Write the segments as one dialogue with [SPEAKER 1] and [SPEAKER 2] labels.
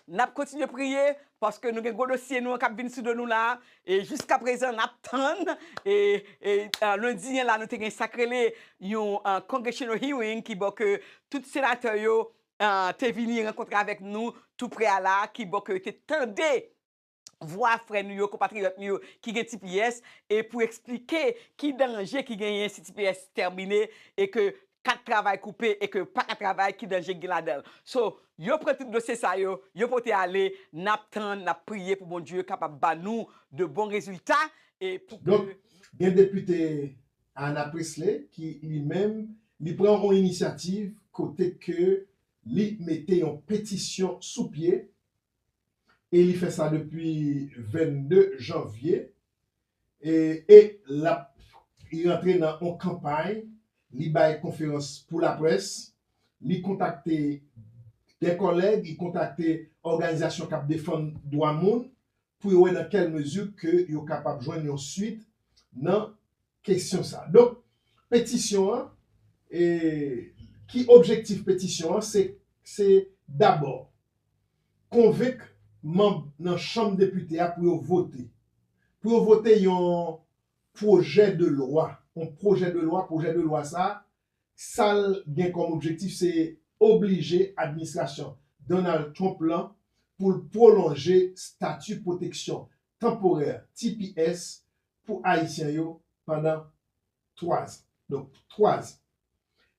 [SPEAKER 1] Nap kontinye priye paske nou gen gwo dosye nou an kap vin sou do nou la e jiska prezan nap tann e lendi an la nou te gen sak rele yon congressional hearing ki bò ke tout senatè yo te vini rankontre avèk nou tou pre a la ki bò ke yo te tande vwa frè nou yo, konpatriyòt nou yo ki gen tps e pou eksplike ki danje ki genyen si tps tèmine e ke kat travay koupe e ke yo pa ka travay ki danje ki gen ladan l. So, yo pran tout dosye sa yo, yo pote ale, n ap tann, n ap priye pou Bondye kapab ba nou de bon rezilta e pou ke Donk, gen
[SPEAKER 2] depite Ayanna Pressley ki li menm li pran yon inisyativ kote ke li mete yon petisyon sou pye e li fè sa depi 22 janvye e lap li rantre nan yon kanpay li bay konferans pou laprès li kontakte dè kòlèg li kontakte òganizasyon kap defann dwa moun pou yo wè nan kèl mezi ke yo kapab jwenn yon swit nan kesyon sa. Donk, petisyon an, e ki objektif petisyon an, se, se dabò, konvenk manb nan chanm depite a pou yo vote, pou yo vote yon pwojè de lwa, yon pwojè de lwa, pwojè de lwa sa, sa l gen kòm objektif se oblije administrasyon Donald Trump lan pou l pwolonje stati pwoteksyon tanporè, tps, pou Ayisyen yo pandan 3 zan. Donk 3 zan.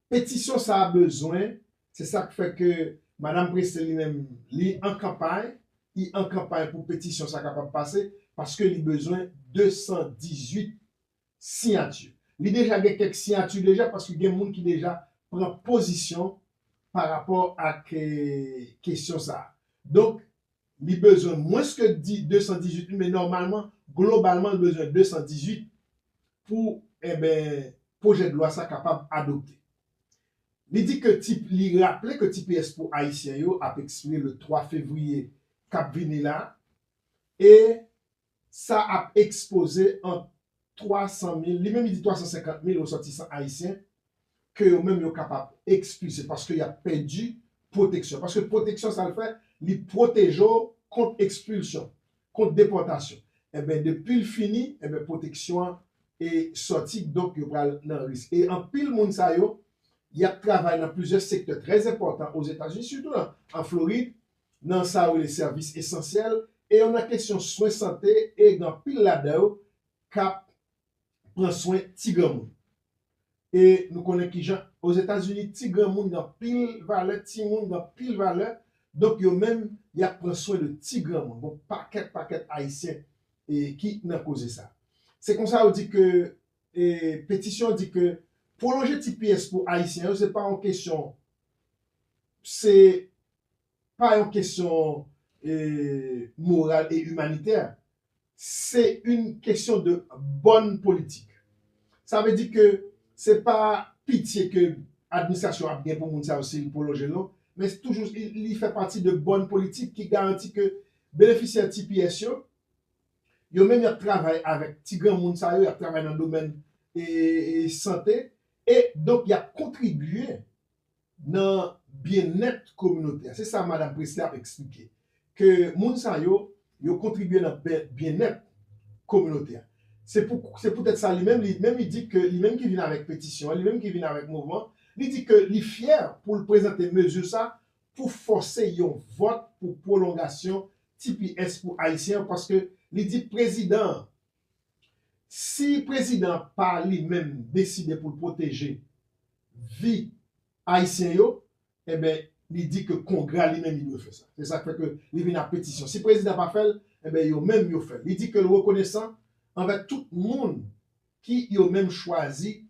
[SPEAKER 2] Petisyon sa a bezwen, se sa k fè ke Madam Pressley li menm li an kanpay, li an kanpay pou petisyon sa a kapab pase, paske li bezwen 218 siyati. Li deja gen kèk siyati deja, paske gen moun ki deja pran pozisyon pa rapò ak kesyon sa a. Donk, Li bezwen mwens ke 218 wi men nòmalman globalman li bezwen 218 pou enben pwojèdlwa sa kapab adopte. Li di ke ti li raple ke tps pou ayisyen yo ap ekspire le 3 fevriye kap vini la e Sa ap ekspoze ant 300 mil, li menm li di 350 mil resòtisan ayisyen ke yo menm yo kapab ekspilse paske y ap pèdi pwoteksyon. Paske pwoteksyon sa l fè? Li pwoteje w kont ekspilsyon, kont depòtasyon. Enben depi l fini, enben pwoteksyon an e sòti donk yo pral nan risk. E anpil moun sa yo, y ap travay nan plizyè sektè trè enpòtan Ozetazini sitou nan an Florid, nan sa yo rele sèvis esansyèl e yo nan kesyon swen sante e gen anpil ladan yo k ap pran swen ti granmoun. E nou konnen ki jan ozetazini ti granmoun gen anpil valè, timoun gen anpil valè, donk yo menm y ap pran swen de ti granmoun. Gon pakèt pakèt ayisyen ki nan koze sa. Se konsa yo di ke petisyon an di ke pwolonje tps pou ayisyen yo se pa yon kesyon se pa yon kesyon moral e imanitè, se yn kesyon de bòn politik. Sa vle di ke se pa pitye ke administrasyon ap gen pou moun sa yo si li pwolonje l non, men toujou li fè pati de bòn politik ki garanti ke benefisyè tps yo, yo menm y ap travay avèk ti granmoun sa yo, y ap travay nan domèn sante, e donk y ap kontribye nan byennèt kominotè. Se sa Madam Pressley ap eksplike, ke moun sa yo, yo kontribye nan byennèt kominotè. Se pou se poutèt sa li menm, li menm li di ke li menm ki vin avèk petisyon an, li menm ki vin avèk mouvman, li di ke li fyè pou l prezante mezi sa pou fòse yon vòt pou pwolongasyon tps pou Ayisyen yo, paske li di prezidan an Si prezidan pa li menm deside pou l pwoteje vi ayisyen yo enben li di ke kongra li menm li dwe fè sa. Se sa k fè ke li vin ak petisyon. Si prezidan pa fè l enben yo menm yo fè l. Li di ke l rekonesan anvè tout moun ki yo menm chwazi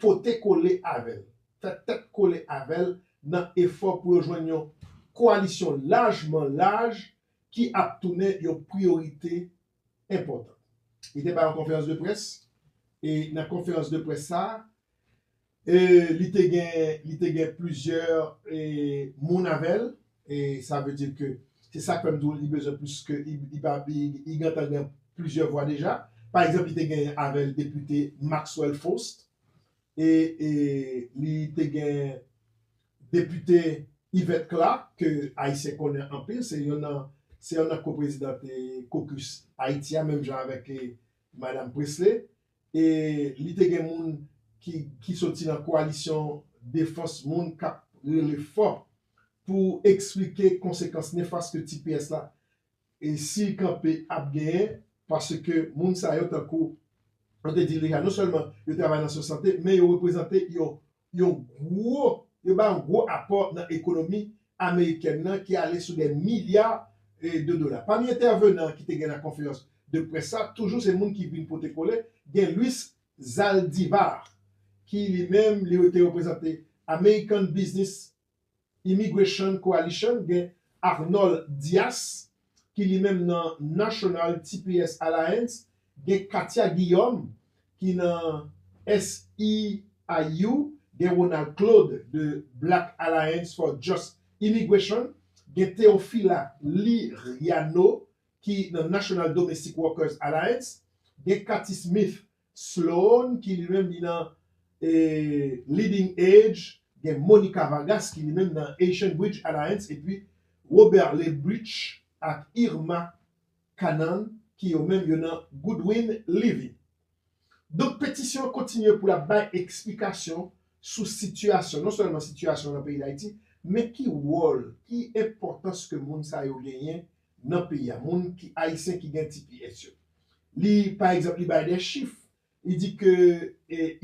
[SPEAKER 2] pote kole avè l, fè tèt kole avè l nan efò pou yo jwenn yon koalisyon lajman laj ki ap tounen yon priyorite enpòtan. Li te bay yon konferans de près e nan konferans de près sa a, li te gen, li te gen plizyè moun avè l e sa vle di ke, se sa k fè m di w li bezwen plis ke, li pa, li gentan gen plizyè vwa deja. Pa egzanp, li te gen avè l depite Maxwell Faust e li te gen. Depite Yvette Clark ke Ayisyen konnen anpil, se yon nan se yon nan ko-prezidant caucus Ayiti a menm jan avèk Madam Pressley e li te gen moun ki ki soti nan koalisyon defans moun k ap rele fò pou eksplike konsekans nefas ke tps la e si l kanpe ap genyen paske moun sa yo tankou nou te di l deja non sèlman yo travay nan swen sante men yo reprezante yon yon gwo yo bay yon gwo apò nan ekonomi amerikèn nan ki ale sou dè milya de dola. Pami entèvenan ki te gen nan konferans de près sa toujou se moun ki vin pote kole gen Luis Zaldivar ki li menm li te reprezante American Business Immigration Coalition gen Arnold Dias ki li menm nan National tps Alliance, gen Katia Guillaume ki nan SEIU, gen Ronald Claude de Black Alliance for Just Immigration, gen Teofila Liriano ki nan National Domestic Workers Alliance, gen Cathy Smith Sloan ki li menm li nan Leading Edge, gen Monica Vargas ki li menm nan Haitian Bridge Alliance epi Robert Lebrich ak Irma Canaan ki yo menm yo nan Goodwin Living. Donk petisyon an kontinye pou l ap bay eksplikasyon sou sitiyasyon, non sèlman sitiyasyon nan peyi Dayiti, men ki wòl, ki enpòtans ke moun sa yo genyen nan peyi a moun ki ayisyen ki gen tps yo li pa egzanp li bay de chif li di ke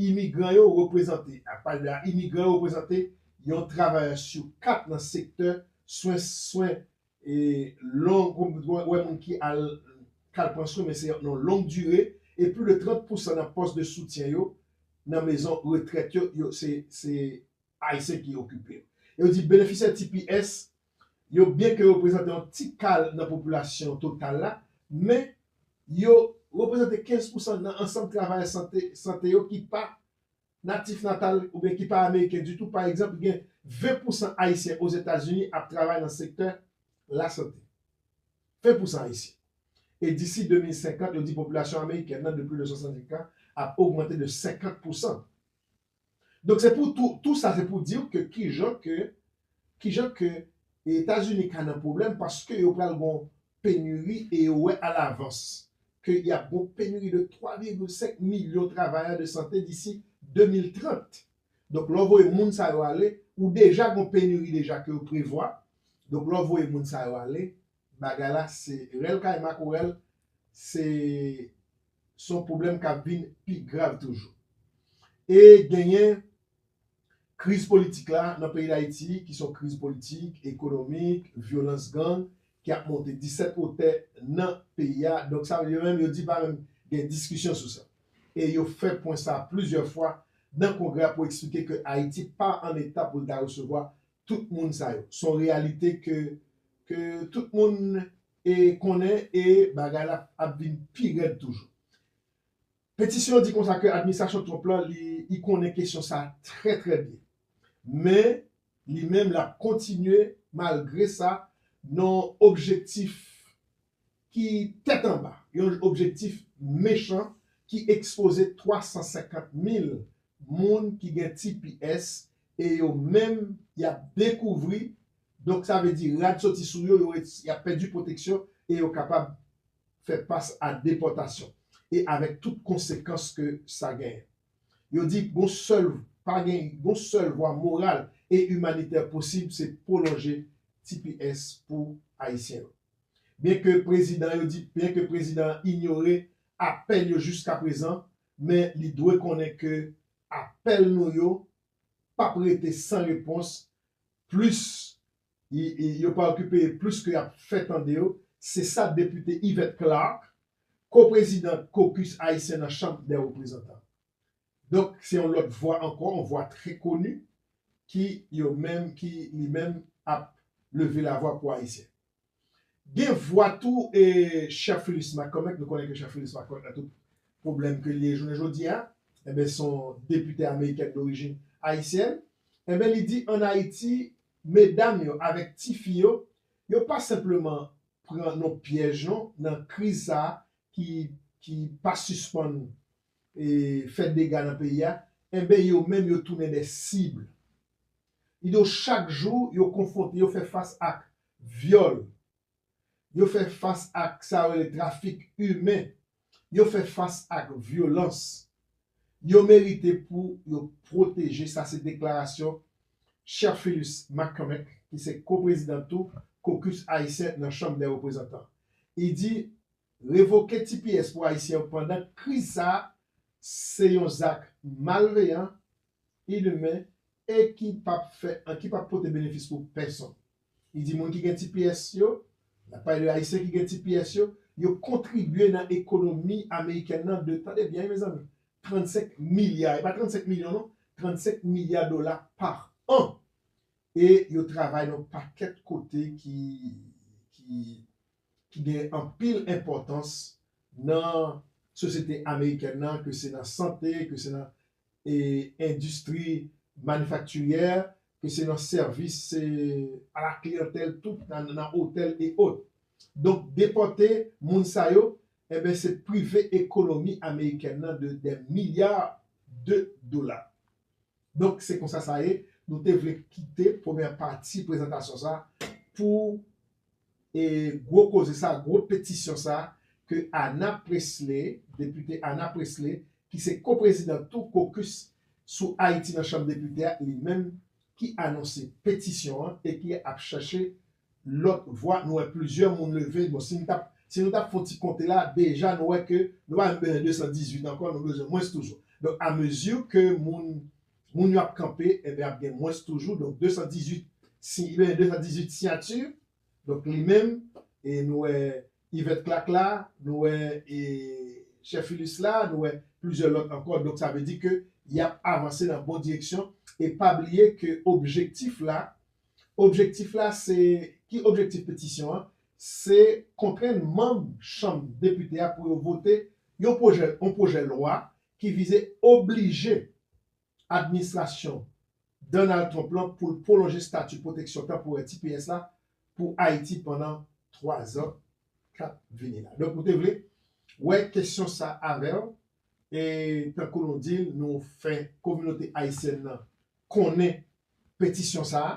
[SPEAKER 2] imigran yo reprezante ap pale de a imigran yo reprezante yon travayè sou 4 nan sektè swen swen long ou pa wè moun ki al k al pran swen men se nan long dire e plis de 30 pousan nan pòs de soutyen yo nan mezon retrèt yo yo se se ayisyen ki okipe yo e yo di benefisyè tps yo byenke reprezante yon ti kal nan popilasyon total la, men yo reprezante 15 pousan nan ansanm travayè sante sante yo ki pa natif natal oubyen ki pa ameriken ditou. Pa egzanp, gen 20 pousan Ayisyen Ozetazini ap travay nan sektè lasante. 20 pousan Ayisyen! E disi 2050, yo di popilasyon amerikèn nan de plis de 65 an ap ogmante de 50 pousan. Donk se pou tou, tou sa se pou diw ke kijan ke, kijan ke Etazini ka nan pwoblèm paske yo pral gon penuri e yo wè alavans ke yap gon penuri de 3 virgil 5 milyon travayè de sante disi 2030. Donk lè w voye moun sa yo ale, ou deja gon penuri deja ke yo prevwa, donk lè w voye moun sa yo ale, Bagay la se rèl kay makorèl, se son pwoblèm k ap vin pi grav toujou. E genyen kriz politik la nan peyi Dayiti ki son kriz politik, ekonomik, vyolans gang ki ap monte disèt wotè nan peyi a. Donk sa vle yo menm yo di pa menm gen diskisyon sou sa. E yo fè pwen sa plizyè fwa nan kongrè a pou eksplike ke Ayiti pa an eta pou l ta resevwa tout moun sa yo. S on reyalite ke ke tout moun e konnen e bagay la ap vin pi rèd toujou. Petisyon an di konsa ke administrasyon Trump la li i konnen kesyon sa trè trè byen. Men li menm l ap kontinye malgre sa nan objektif ki tèt anba, yon objektif mechan ki ekspoze 350 mil moun ki gen tps e yo menm y ap dekouvri, donk sa vle di rad soti sou yo, y ap pèdi pwoteksyon e yo kapab fè fas a depòtasyon e avèk tout konsekans ke sa genyen. Yo di gon sèl pa gen gon sèl vwa moral e imanitè posib se pwolonje tps pou Ayisyen yo. Byen ke prezidan yo di byen ke prezidan an inyore apèl yo jiskaprezan men li dwe konnen ke apèl nou yo p ap rete san repons plis yo pa okipe yo plis ke y ap fè tande yo, se sa depite Yvette Clarke, ko-prezidant Caucus Ayisyen nan Chanm dè Reprezantan, Donk se yon lòt vwa ankò, yon vwa trè koni ki yo menm, ki li menm ap leve lavwa pou Ayisyen. Gen vwa tou e Chè Philus McCormick, nou konnen ke Chè Philus McCormick nan tout pwoblèm ke li ye jounen jodi a, enben se yon depite amerikèn dorijin ayisyèn, enben li di an Ayiti medam yo avèk ti fi yo, yo pa senpleman pran nan pyèj non nan kriz sa a ki pa sispann fè dega nan peyi a, enben yo menm yo tounen dè sib. Kidonk chak jou yo konfwonte, yo fè fas ak vyòl, yo fè fas ak sa yo rele trafik imen, yo fè fas ak vyolans. Yo merite pou yo pwoteje, sa se deklarasyon Cherfilus McCormick ki se ko-prezidan tou Caucus Ayisyen nan Chanm dè Reprezantan. Li di Revoke tps pou ayisyen yo pandan kriz sa a se yon zak malveyan, inhumain e ki p ap fè an ki p ap pote benefis pou pèsonn. Li di moun ki gen tps yo, l ap pale de ayisyen ki gen tps yo, yo kontribye nan ekonomi amerikèn nan de, tande byen wi mezanmi, 35 milya, e pa 35 milyon non, 35 milya dola pa an e yo travay nan yon pakèt kote ki ki. ki gen anpil enpòtans nan sosyete amerikèn nan, ke se nan sante, ke se nan endistri manifaktirye, ke se nan sèvis a la kliyantèl tout, nan otèl e ot. Donk depòte moun sa yo, enben se prive ekonomi amerikèn nan de dè milya de dola. Donk se konsa sa ye, nou te vle kite premyè pati prezantasyon sa pou e gwo koze sa, gwo petisyon sa ke Ana Presle, depite Ana Presle ki se ko-prezidan tou kokis sou Ayiti nan chanm depite a, li menm ki anonse petisyon an e ki ap chache lòt vwa nou wè plizyè moun leve bon si mtap si nou tap fon ti konte la deja nou wè ke nou pa menm bezwen 218 ankò nou bezwen mwens toujou donk a mezi ke moun moun yo ap kanpe enben ap gen mwens toujou donk 218 si li bezwen 218 siyati donk li menm e nou wè Yvette Clark la nou wè e chè Philus la nou wè plizyè lòt ankò donk sa vle di ke yap avanse nan bon direksyon e pa bliye ke objektif la Objektif la se, Ki objektif petisyon an? Se kontrenn manm Chanm Depite a pou yo vote yon pwojè yon pwojè lwa ki vize oblije administrasyon Donald Trump lan pou l pwolonje stati pwoteksyon tanporè tps la pou Ayiti pandan 3 zan k ap vini la. Donk nou te vle wè kesyon sa avè w e tankou nou di l nou fè kominote ayisyèn nan konnen petisyon sa a,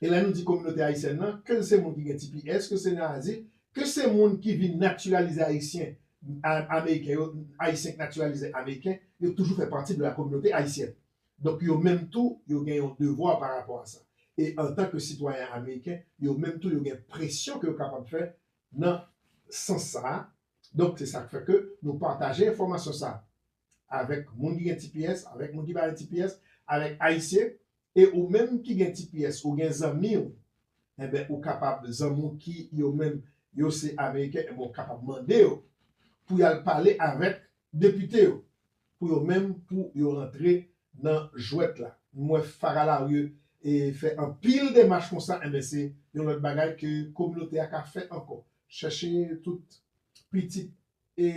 [SPEAKER 2] e lè nou di kominote ayisyèn nan, ke l se moun ki gen tps, ke se nan azil, ke se moun ki vin natiralize ayisyen, ameriken yo, ayisyen ki natiralize ameriken, yo toujou fè pati de la kominote ayisyèn. Donk yo menm tou, yo gen yon devwa pa rapò a sa. E antan ke sitwayen ameriken, yo menm tou yo gen presyon ke yo kapab fè nan sans sa a. Donk se sa k fè ke nou pataje enfòmasyon sa a. avèk moun ki gen tps, avèk moun ki pa gen tps, avèk ayisyen, e ou menm ki gen tps ou gen zanmi w, enben ou kapab zanmi w ki yo menm yo se ameriken enben ou kapab mande yo pou y al pale avèk depite yo pou yo menm pou yo rantre nan jwèt la. M wè Farah Larieux e fè anpil demach konsa enben se yon lòt bagay ke kominote a ka fè ankò. Chèche tout pitit e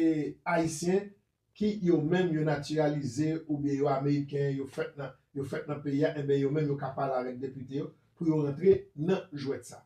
[SPEAKER 2] Ayisyen ki yo menm yo natiralize oubyen yo ameriken, yo fèt nan yo fèt nan peyi a, enben yo menm yo ka pale avèk depite yo pou yo rantre nan jwèt sa a.